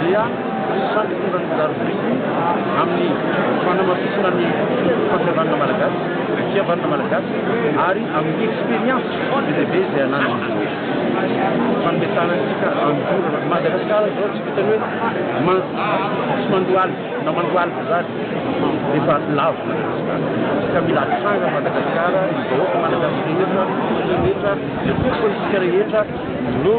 dia sady tonga mizary biriky amin'ny fanamafisana ny fahasahiranana malagasy, ny fihavanana malagasy ary amin'ny expérience be dia be izay ananan'ny rehetra. Fanomezana antsika andorana ny Madagasikara izao tsy vitan'ny hoe tsy mandohalika na mandohalika izany efa lavo ny Madagasikara ka mila hatranga ny Madagasikara, ny vahoaka malagasy rehetra, ny firenena rehetra, ny tompontsika rehetra, ireo